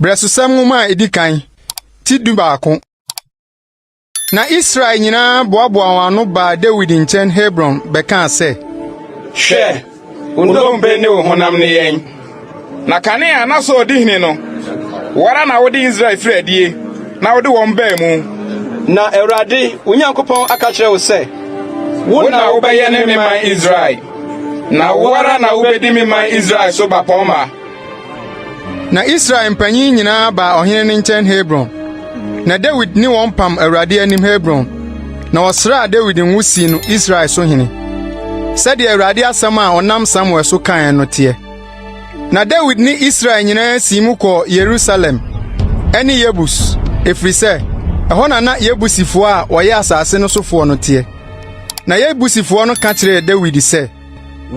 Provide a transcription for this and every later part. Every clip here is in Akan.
Brɛsosɛm nwoma a edi kan ti du baako. Na Israel nyinaa boaboaa wɔn ano baa Dawid nkyɛn Hebron bɛkaa sɛ, Hwɛ! Wo nnompe ne wo honam ne yɛn. Na kanea a na Saul di hene no, wo ara na wode Israel firi adie na wode wɔn baa mu. Na Awurade, wo Nyankopɔn aka akyerɛ wo sɛ, Wo na wobɛyɛne me man Israel, na wo ara na wobɛdi me man Israel so bapɔmma. Na Israel mpanyin nyinaa baa ɔhene no nkyɛn Hebron, na Dawid ne wɔn pam Awurade anim Hebron, na ɔsraa Dawid ngo sii no Israel so hene, sɛdeɛ Awurade asɛm a ɔnam Samuel so kaeɛ no teɛ. Na Dawid ne Israel nyinaa sii mu kɔɔ Yerusalem ne Yebus, ɛfiri sɛ, ɛhɔ na na Yebusifoɔ a wɔyɛ asase no sofoɔ no teɛ. Na Yebusifoɔ no ka kyerɛɛ Dawid sɛ,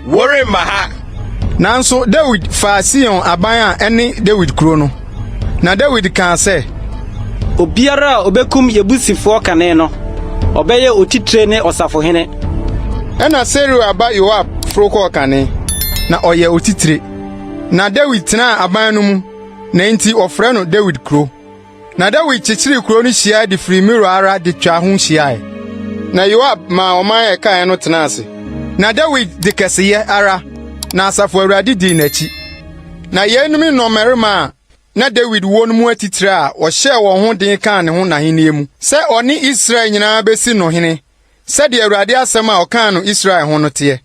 Woremma ha! Nanso Dawid faa Sion aban a ɛne Dawid kurow no, na Dawid kaa sɛ, Obiara a obekum Yebusifoɔ kane no, ɔbɛyɛ otitire ne ɔsafohene. Ɛnna Seruia ba Yoab foro kɔɔ kane, na ɔyɛɛ otitire. Na Dawid tenaa aban no mu, na enti wɔfrɛ no Dawid Kurow. Na Dawid kyekyeree kurow no hyiae de firi Milo ara de twaa ho hyiae. Na Yoab maa ɔman a ɛkae no tenaa ase. Na Dawid de kɛseyɛ ara, na Asafo Awurade dii n'akyi. Na yeinom ne nnɔmmarima a na Dawid wɔ no mu atitire a wɔhyɛɛ wɔn ho den kaa ne ho n'ahennie mu, sɛ ɔne Israel nyinaa bɛsi no hene, sɛdeɛ Awurade asɛm a ɔkaa no Israel ho no teɛ.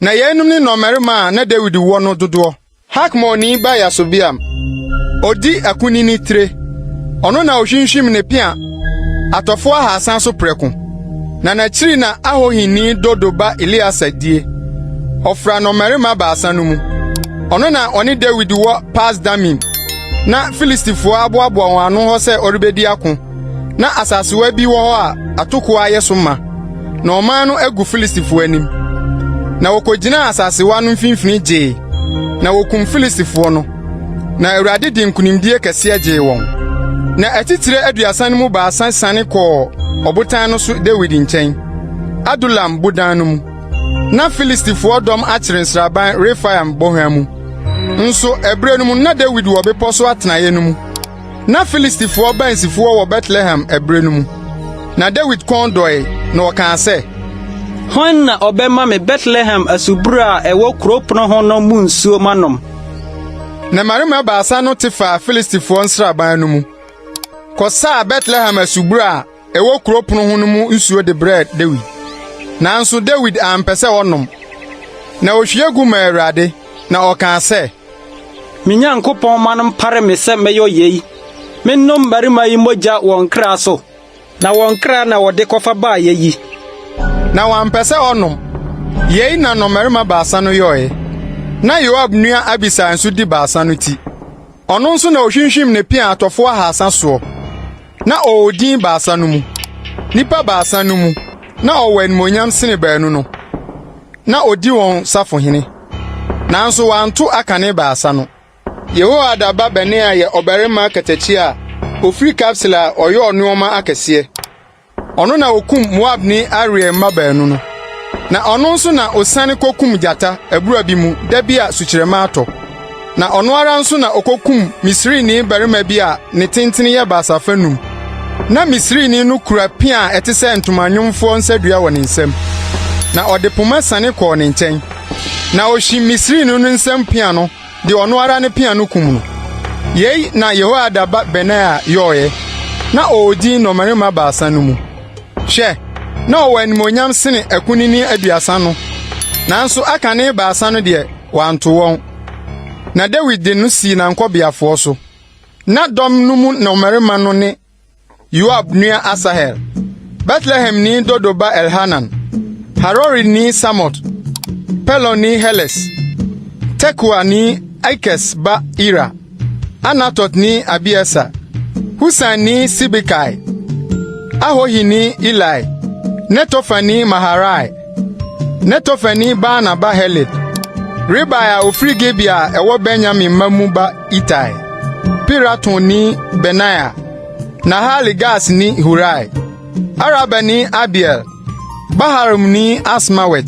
Na yeinom ne nnɔmmarima a na Dawid wɔ no dodoɔ. Hakmonni ba Yasobeam, ɔdi akunini tire, ɔno na ɔhwimhwim ne pea atɔfoɔ ahasa so prɛko, na n'akyiri na Ahohini Dodo ba Eleasa die, ɔfra nnɔmmarima baasa no mu. Ɔno na ɔne Dawid wɔ Pas-Damim, na Filistifoɔ aboaboa wɔn ano hɔ sɛ wɔrebɛdi ako. Na asasewa bi wɔ hɔ a atoko ayɛ so ma, na ɔman no agu Filistifo anim. Na wokogyinaa asasewa no mfimfini gyee, na wokum Filistifo no, na Awurade de nkonimdie kɛseɛ gyee wɔn. Na atitire aduasa no mu baasa siane kɔɔ ɔbotan no so Dawid nkyɛn, Adulam bodan no mu. Na Filistifoɔ dɔm akyere nsraban Refaim bɔnhwa mu. Nso ɛberɛ no mu na Dawid wɔ bepɔ so atenaeɛ no mu. Ná Filistifoɔ baansifoɔ wɔ Betlehem ɛberɛ no mu. Na Dawid kɔn dɔe, na ɔkaa sɛ, Hwan na ɔbɛma me Betlehem asubura a ɛwɔ kurow pono ho no mu nsuo manom? Na mmarima baasa no te faa Filistifoɔ nsraban no mu kɔsaa Betlehem asubura a ɛwɔ kurow pono ho no mu nsuo de brɛɛ Dawid. Nanso Dawid ampɛ sɛ ɔnom, na ohwie gu maa Awurade, na ɔkaa sɛ, Me Nyankopɔn ma no mpare me sɛ mɛyɔ yei, mennom mmarima yi mogya wɔ nkra so, na wɔn nkra na wɔde kɔfa baeɛ yi. Na wampɛ sɛ ɔnom. Yei na nnɔmmarima baasa no yɔeɛ. Ná Yoab nua Abisai nso di baasa no ti. Ɔno nso na ɔhwinhwim ne pea atɔfoɔ ahasa soɔ. Na ɔwɔ din baasa no mu. Nnipa baasa no mu na ɔwɔ animuonyam sene baanu no. Na ɔdi wɔn safohene. Nanso wɔanto akane baasa no. Yehoiada ba Benaia yɛ ɔbarima katakyi a ɔfiri Kabseel a ɔyɔɔ nneɛma akɛseɛ. Ɔno na ɔkum Moabni Ariel mma baanu no. Na ɔno nso na ɔsiane kɔkum gyata abura bi mu da bi a sukyerɛmma atɔ. Na ɔno ara nso na okokum Misrini barima bi a ne tenten yɛ baasa fanu. Na Misrini no kura pea a ɛte sɛ ntoma nwomfoɔ nsadua wɔ ne nsam, na ɔde poma siane kɔɔ ne nkyɛn. Na ɔhyim Misrini no nsam pea no de ɔno ara ne pea no kum no. Yei na Yehoiada ba Benaia yɔeɛ. Na ɔwɔ din nnɔmmarima baasa no mu. Hwɛ, na ɔwɔ animuonyam sene akunini aduasa no, nanso aka ne baasa no deɛ, wanto wɔn. Na Dawid de no sii n'ankɔbeafoɔ so. Na dɔm no mu nnɔmmarima no ne Yoab nua Asahel, Betlehemni Dodo ba Elhanan, Harorini Samot, Peloni Heles, Tekoani Ikes ba Ira, Anatotni Abiesa, Husanni Sibekai, Ahohini Ilai, Netofani Maharai, Netofani Baana ba Heled, Ribai a ofiri Gibea a ɛwɔ Benyamin mma mu ba Itai, Piratoni Benaia, Nahale Gasni Hurai, Arabani Abiel, Baharumni Asmawet,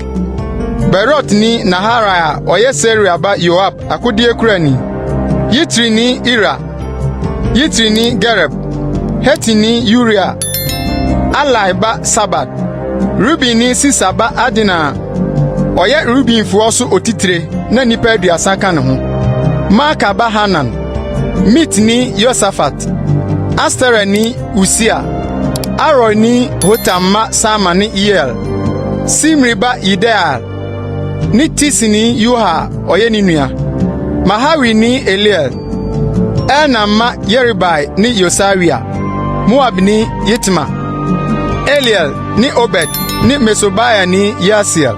Beerotni Naharai a ɔyɛ Seruia ba Yoab akodeɛkurani, Yitrini Ira, Yitrini Gareb, Hetini Uria, Alai ba Sabad, Rubenni Sisa ba Adina a ɔyɛ Rubenfoɔ so otitire na nnipa aduasa ka ne ho, Maaka ba Hanan, Mitni Yosafat, Asterani Usia, Aroerni Hotam mma Sama ne Yeiel, Simri ba Yediael ne Tisni Yoha a ɔyɛ ne nua, Mahawini Eliel, Elnaam mma Yeribai ne Yosawia, Moabni Yitma, Eliel ne Obed ne Mesobaiani Yaasiel.